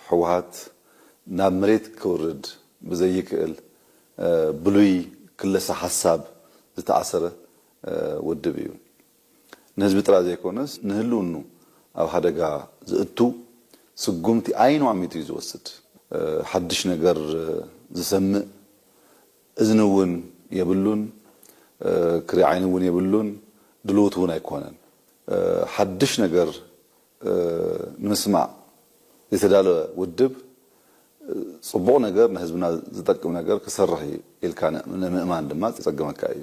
ህወሓት ናብ መሬት ክውርድ ብዘይክእል ብሉይ ክለሳ ሓሳብ ዝተኣሰረ ውድብ እዩ። ንህዝቢ ጥራይ ዘይኮነስ ንህልውንኡ ኣብ ሓደጋ ዘእቱ ስጉምቲ ዓይኑ ኣሚቱ እዩ ዝወስድ። ሓድሽ ነገር ዝሰምእ እዝኒ እውን የብሉን፣ ክሪኢ ዓይኒ እውን የብሉን፣ ድሉውት እውን ኣይኮነን። ሓድሽ ነገር ንምስማዕ ዝተዳለወ ውድብ ፅቡቕ ነገር ንህዝብና ዝጠቅም ነገር ክሰርሕ እዩ ኢልካ ንምእማን ድማ ዝፀግመካ እዩ።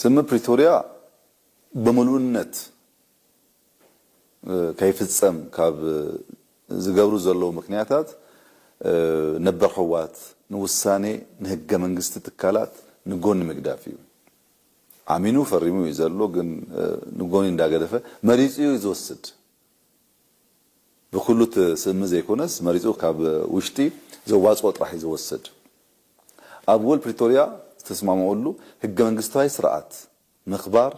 ስምምዕ ፕሪቶርያ ብምሉእነት ከይፍፀም ካብ ዝገብሩ ዘለዉ ምክንያታት ነበር ህወሓት ንውሳኔ ንህገ መንግስቲ ትካላት ንጎኒ ምግዳፍ እዩ። ኣሚኑ ፈሪሙ እዩ ዘሎ ግን ንጎኒ እንዳገደፈ መሪፁ እዩ ዝወስድ። ብኩሉ ትስእምት ዘይኮነስ መሪጹ ካብ ውሽጢ ዘዋጽኦ ጥራሕ እዩ ዝወሰድ። ኣብ ውል ፕሪቶርያ ዝተስማምኦሉ ህገ መንግስታዊ ስርዓት ምክባር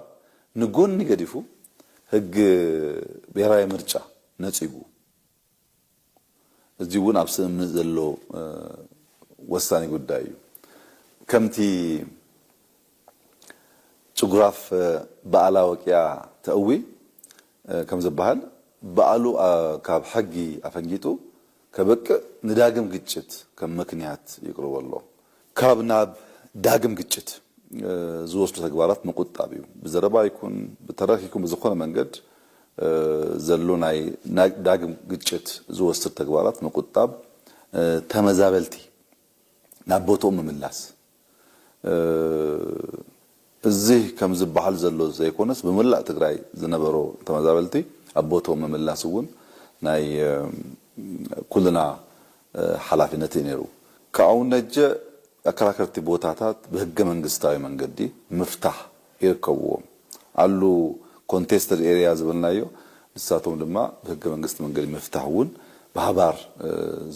ንጎኒ ገዲፉ ህግ ብሄራዊ ምርጫ ነጺጉ፣ እዚ እውን ኣብ ስምምዕ ዘሎ ወሳኒ ጉዳይ እዩ። ከምቲ ጭጉራፍ በኣላ ወቂያ ተእዊ ከም ዝበሃል በኣሉ ካብ ሕጊ ኣፈንጊጡ ከብቅዕ ንዳግም ግጭት ከም ምክንያት ይቅርቦ ኣሎ። ካብ ናብ ዳግም ግጭት ዝወስዱ ተግባራት ምቁጣብ እዩ። ብዘረባ ይኩን ብተረክ ይኩን ብዝኮነ መንገድ ዘሎ ናይ ዳግም ግጭት ዝወስድ ተግባራት ምቁጣብ ተመዛበልቲ ናብ ቦትኦም ምምላስ፣ እዚ ከም ዝበሃል ዘሎ ዘይኮነስ ብመላእ ትግራይ ዝነበሩ ተመዛበልቲ ኣብ ቦትኦም ምምላስ እውን ናይ ኩልና ሓላፊነት እዩ ነይሩ። ካብኡ ነጀ ኣከራከርቲ ቦታታት ብህገ መንግስታዊ መንገዲ ምፍታሕ ይርከብዎም። ኣሉ ኮንቴስተድ ኤርያ ዝበልናዮ ንሳቶም ድማ ብህገ መንግስቲ መንገዲ ምፍታሕ እውን ብሃባር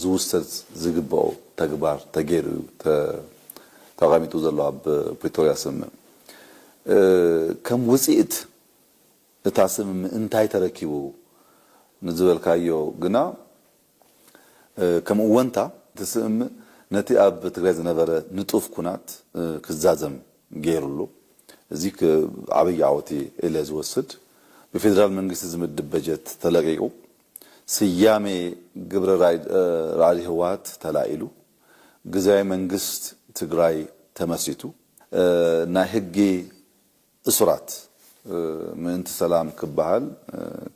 ዝውሰድ ዝግበኦ ተግባር ተገይሩ እዩ። ተቐሚጡ ዘሎ ኣብ ፕሪቶርያ ስምምዕ ከም ውጺእት እታ ስምምዕ እንታይ ተረኪቡ ንዝበልካዮ ግና ከም እወንታ እቲ ስምምዕ ነቲ ኣብ ትግራይ ዝነበረ ንጡፍ ኩናት ክዛዘም ገይሩ ኣሎ። እዚ ዓብይ ዓወት እየ ኢለ ዝወስድ። ብፌደራል መንግስቲ ዝምድብ በጀት ተለቂቁ፣ ስያሜ ግብረ ራዕዲ ህወሓት ተላኢሉ፣ ግዝያዊ መንግስት ትግራይ ተመስሪቱ ናይ ህጊ እሱራት ምእንቲ ሰላም ክበሃል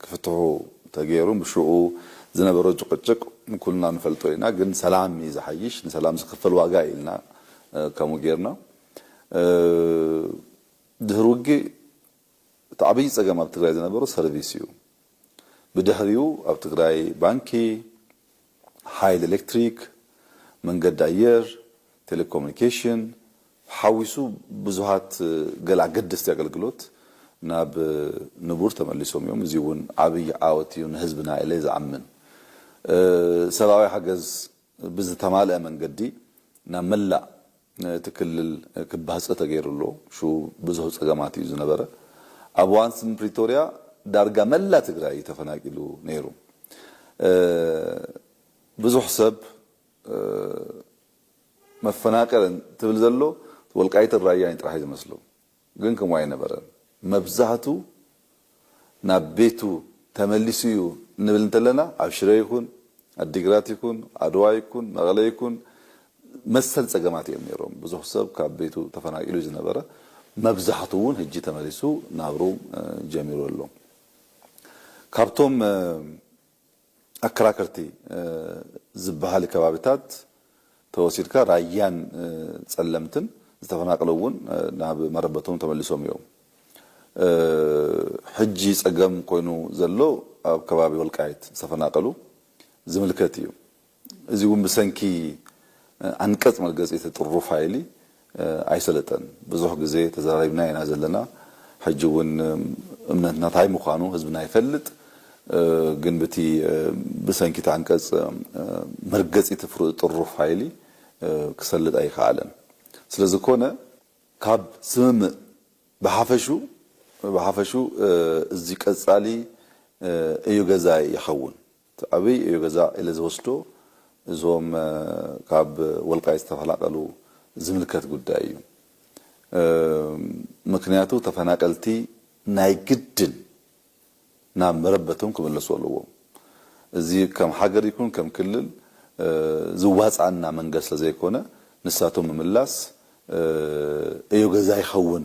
ክፍትሑ ተገይሩ ብሽኡ ዝነበሮ ጭቕጭቕ ኩልና ንፈልጦ ኢና ግን ሰላም እዩ ዝሓይሽ ንሰላም ዝክፈል ዋጋ እዩ ኢልና ከምኡ ገይርና ድህሪ ውግእ እቲ ዓብዪ ፀገም ኣብ ትግራይ ዝነበሮ ሰርቪስ እዩ ብድሕሪኡ ኣብ ትግራይ ባንኪ ሓይሊ ኤሌክትሪክ፣ መንገዲ ኣየር፣ ቴሌኮሙኒኬሽን ሓዊሱ ብዙሃት ገለ ኣገደስቲ ኣገልግሎት ናብ ንቡር ተመሊሶም እዮም። እዚ እውን ዓብይ ዓወት እዩ ንህዝብና ኢለ ዝኣምን። ሰብኣዊ ሓገዝ ብዝተማልኣ መንገዲ ናብ መላእ እቲ ክልል ክባህፀ ተገይሩ ኣሎ። ሽኡ ብዙህ ፀገማት እዩ ዝነበረ። ኣብ እዋን ስምምዕ ፕሪቶርያ ዳርጋ መላእ ትግራይ እዩ ተፈናቂሉ ነይሩ። ብዙሕ ሰብ መፈናቀል እንትብል ዘሎ ወልቃይትን ራያን ጥራሕ እዩ ዝመስሎ ግን ከምኡ ኣይነበረን መብዛሕቱ ናብ ቤቱ ተመሊሱ እዩ እንብል እንተለና ኣብ ሽረ ይኹን ኣዲግራት ይኹን ኣድዋ ይኩን መቐለ ይኩን መሰል ፀገማት እዮም ነይሮም ብዙሕ ሰብ ካብ ቤቱ ተፈናቂሉ ዝነበረ መብዛሕቱ እውን ህጂ ተመሊሱ ናብሩ ጀሚሩ ኣሎ። ካብቶም ኣከራከርቲ ዝበሃሊ ከባቢታት ተወሲድካ ራያን ፀለምትን ዝተፈናቀሉ እውን ናብ መረበቶም ተመሊሶም እዮም። ሕጂ ፀገም ኮይኑ ዘሎ ኣብ ከባቢ ወልቃይት ዝተፈናቀሉ ዝምልከት እዩ። እዚ እውን ብሰንኪ ኣንቀጽ መርገጺ እቲ ጥሩፍ ሃይሊ ኣይሰለጠን። ብዙሕ ግዜ ተዘራሪብና ኢና ዘለና። ሕጂ እውን እምነትና ታይ ምዃኑ ህዝብና ይፈልጥ። ግን ብቲ ብሰንኪ እቲ ኣንቀጽ መርገጺ እቲ ፍሩእ ጥሩፍ ሃይሊ ክሰልጥ ኣይከኣለን። ስለ ዝኾነ። ካብ ስምምእ ብሓፈሹ ብሓፈሹ እዚ ቀጻሊ እዩ ገዛኢ ይኸውን። እቲ ዓብይ ዕዮ ገዛ ኢለ ዝወስዶ እዞም ካብ ወልቃይት ዝተፈናቀሉ ዝምልከት ጉዳይ እዩ። ምክንያቱ ተፈናቀልቲ ናይ ግድን ናብ መረበቶም ክምለሱ ኣለዎም። እዚ ከም ሃገር ይኩን ከም ክልል ዝዋፅኣና መንገድ ስለዘይኮነ ንሳቶም ምምላስ ዕዮ ገዛ ይኸውን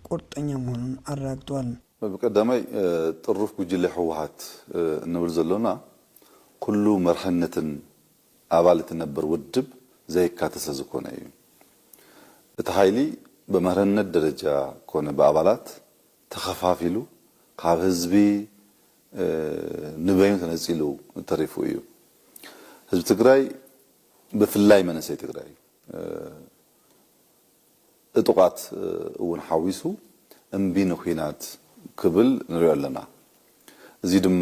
ቁርጠኛ ምዃኑን ኣረጋግጧል። ቀዳማይ ጥሩፍ ጉጅለ ህወሓት እንብል ዘሎና ኩሉ መርሕነትን ኣባል እቲ ነበር ውድብ ዘየካተ ስለዝኮነ እዩ። እቲ ሓይሊ በመርሕነት ደረጃ ኮነ ብኣባላት ተኸፋፊሉ ካብ ህዝቢ ንበይኑ ተነጺሉ ተሪፉ እዩ። ህዝቢ ትግራይ ብፍላይ መንእሰይ ትግራይ እጡቓት እውን ሓዊሱ እምቢ ንኲናት ክብል ንሪኦ ኣለና። እዙይ ድማ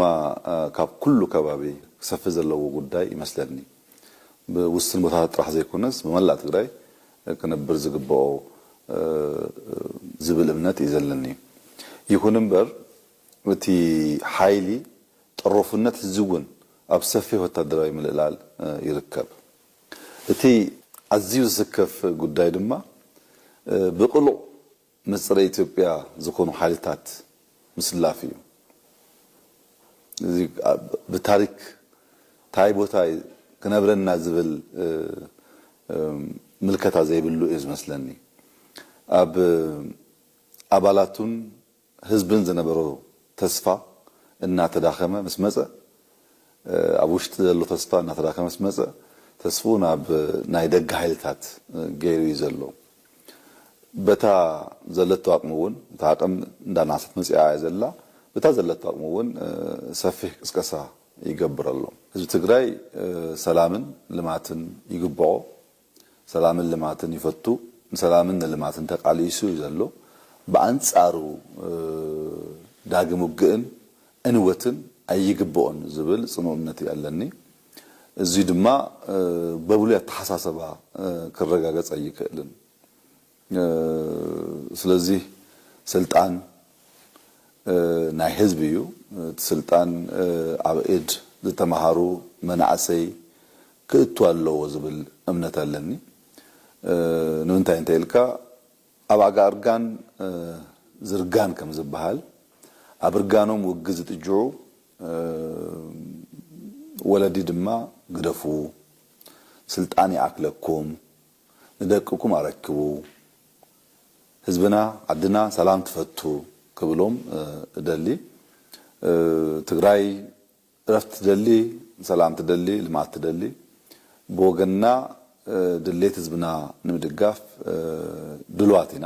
ካብ ኩሉ ከባቢ ክሰፍሕ ዘለዎ ጉዳይ ይመስለኒ። ብውስን ቦታታት ጥራሕ ዘይኮነስ ብመላእ ትግራይ ክነብር ዝግበኦ ዝብል እምነት እዩ ዘለኒ። ይኹን እምበር እቲ ሓይሊ ጠሮፍነት ሕዚ እውን ኣብ ሰፊሕ ወታደራዊ ምልእላል ይርከብ። እቲ ኣዝዩ ዝስከፍ ጉዳይ ድማ ብቅሉዕ ምስ ጸረ ኢትዮጵያ ዝኾኑ ሓይልታት ምስላፍ እዩ። እዚ ብታሪክ ታይ ቦታ እዩ ክነብረና ዝብል ምልከታ ዘይብሉ እዩ ዝመስለኒ። ኣብ ኣባላቱን፣ ህዝብን ዝነበሮ ተስፋ እናተዳኸመ ምስ መጸ፣ ኣብ ውሽጢ ዘሎ ተስፋ እናተዳኸመ ምስ መጸ፣ ተስፍኡ ናብ ናይ ደገ ሓይልታት ገይሩ እዩ ዘሎ። በታ ዘለቶ ኣቕሚ እውን፣ እታ ኣቕም እንዳነኣሰት መጺኣ እያ ዘላ፣ በታ ዘለቶ ኣቕሚ እውን ሰፊሕ ቅስቀሳ ይገብር ኣሎ። ህዝቢ ትግራይ ሰላምን ልማትን ይግብኦ፣ ሰላምን ልማትን ይፈቱ ንሰላምን ንልማትን ተቃሊሱ እዩ ዘሎ ብኣንጻሩ ዳግም ውግእን ዕንወትን ኣይግብኦን ዝብል ጽኑእ እምነት እዩ ኣለኒ እዙይ ድማ በብሉይ ኣተሓሳሰባ ክረጋገጽ ኣይክእልን ስለዚ ስልጣን ናይ ህዝቢ እዩ። እቲ ስልጣን ኣብ ኢድ ዝተመሃሩ መናእሰይ ክእቱ ኣለዎ ዝብል እምነት ኣለኒ። ንምንታይ እንተኢልካ ኣብ ኣጋ እርጋን ዝርጋን ከም ዝበሃል ኣብ እርጋኖም ውግዝ ዝጥጅዑ ወለዲ ድማ ግደፉ ስልጣን ይኣክለኩም፣ ንደቅኩም ኣረክቡ ህዝብና ዓድና ሰላም ትፈቱ ክብሎም እደሊ ትግራይ እረፍት ትደሊ ሰላም ትደሊ ልምዓት ትደሊ ብወገንና ድሌት ህዝብና ንምድጋፍ ድልዋት ኢና።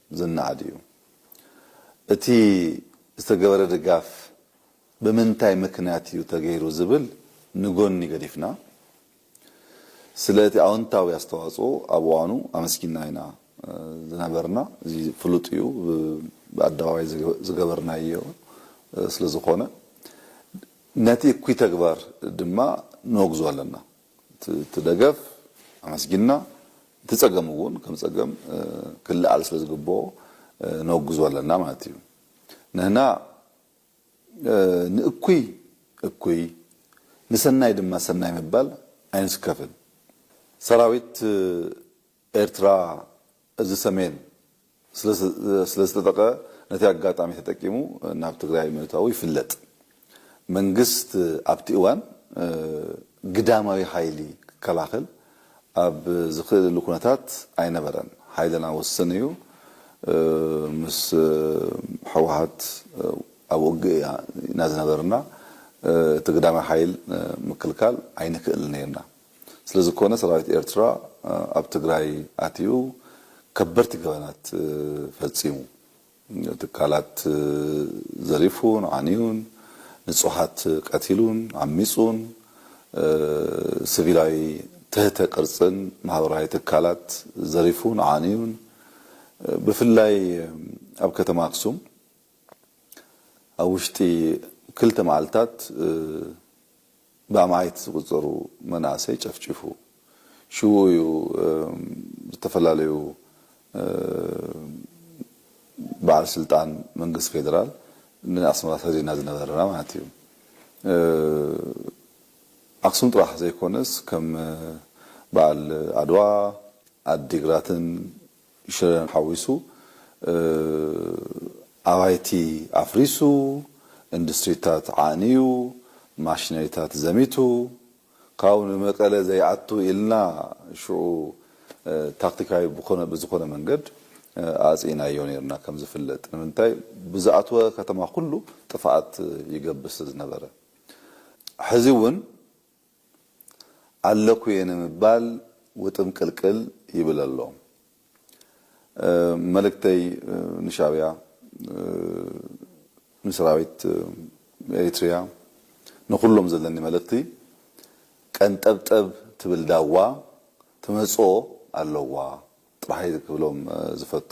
ዝነኣድ እዩ። እቲ ዝተገበረ ድጋፍ ብምንታይ ምክንያት እዩ ተገይሩ ዝብል ንጎኒ ገዲፍና፣ ስለ እቲ ኣወንታዊ ኣስተዋፅኦ ኣብ እዋኑ ኣመስጊንና ኢና ዝነበርና። እዚ ፍሉጥ እዩ፣ ብኣደባባይ ዝገበርናዮ ስለ ዝኾነ። ነቲ እኩይ ተግባር ድማ ነወግዞ ኣለና። እቲ ደገፍ ኣመስጊንና እቲ ጸገም እውን ከም ጸገም ክለዓል ስለ ዝግብኦ ነውግዞ ኣለና ማለት እዩ። ንህና ንእኩይ እኩይ ንሰናይ ድማ ሰናይ ምባል ኣይንስከፍን። ሰራዊት ኤርትራ እዚ ሰሜን ስለዝተጠቀ ነቲ ኣጋጣሚ ተጠቂሙ ናብ ትግራይ ምእታዉ ይፍለጥ። መንግስት ኣብቲ እዋን ግዳማዊ ሓይሊ ክከላኸል ኣብ ዝኽእልሉ ኩነታት ኣይነበረን። ሓይልና ውስን እዩ። ምስ ሕወሓት ኣብ ውግእ ኢና ዝነበርና። እቲ ግዳማዊ ሓይል ምክልካል ኣይንክእልን ኔርና። ስለዝኮነ ሰራዊት ኤርትራ ኣብ ትግራይ ኣትዩ ከበድቲ ገበናት ፈጺሙ። ትካላት ዘሪፉን ዓንዩን፣ ንጹሃት ቀቲሉን ዓሚጹን፣ ስቪላዊ ትህተ ቅርጽን ማህበራዊ ትካላት ዘሪፉን ዓንዩን፣ ብፍላይ ኣብ ከተማ ኣክሱም ኣብ ውሽጢ ክልተ መዓልታት፣ ብኣማኢት ዝቑጸሩ መናእሰይ ጨፍጪፉ። ሽውኡ እዩ ዝተፈላለዩ በዓል ስልጣን መንግስቲ ፌደራል ንኣስመራ ሰዲድና ዝነበርና ማለት እዩ። ኣክሱም ጥራሕ ዘይኮነስ ከም በዓል ዓድዋ፣ ዓዲግራትን ሽረን ሓዊሱ ኣባይቲ ኣፍሪሱ፣ ኢንዱስትሪታት ዓንዩ፣ ማሽነሪታት ዘሚቱ፣ ካብኡ ንመቀለ ዘይኣቱ ኢልና ሽዑ ታክቲካዊ ብዝኾነ መንገድ ኣጽኢናዮ ኔርና ከም ዝፍለጥ። ንምንታይ ብዝኣትወ ከተማ ኩሉ ጥፍኣት ይገብር ስለ ዝነበረ። ሕዚ ውን። ኣለኩ'የ ንምባል ውጥምቅልቅል ይብል ኣሎ። መልእክተይ ንሻብያ፣ ንሰራዊት ኤሪትሪያ፣ ንኩሎም ዘለኒ መልእክቲ ቀንጠብጠብ ትብል ዳዋ ትመጽኦ ኣለዋ ጥራሕ'የ ክብሎም ዝፈቱ።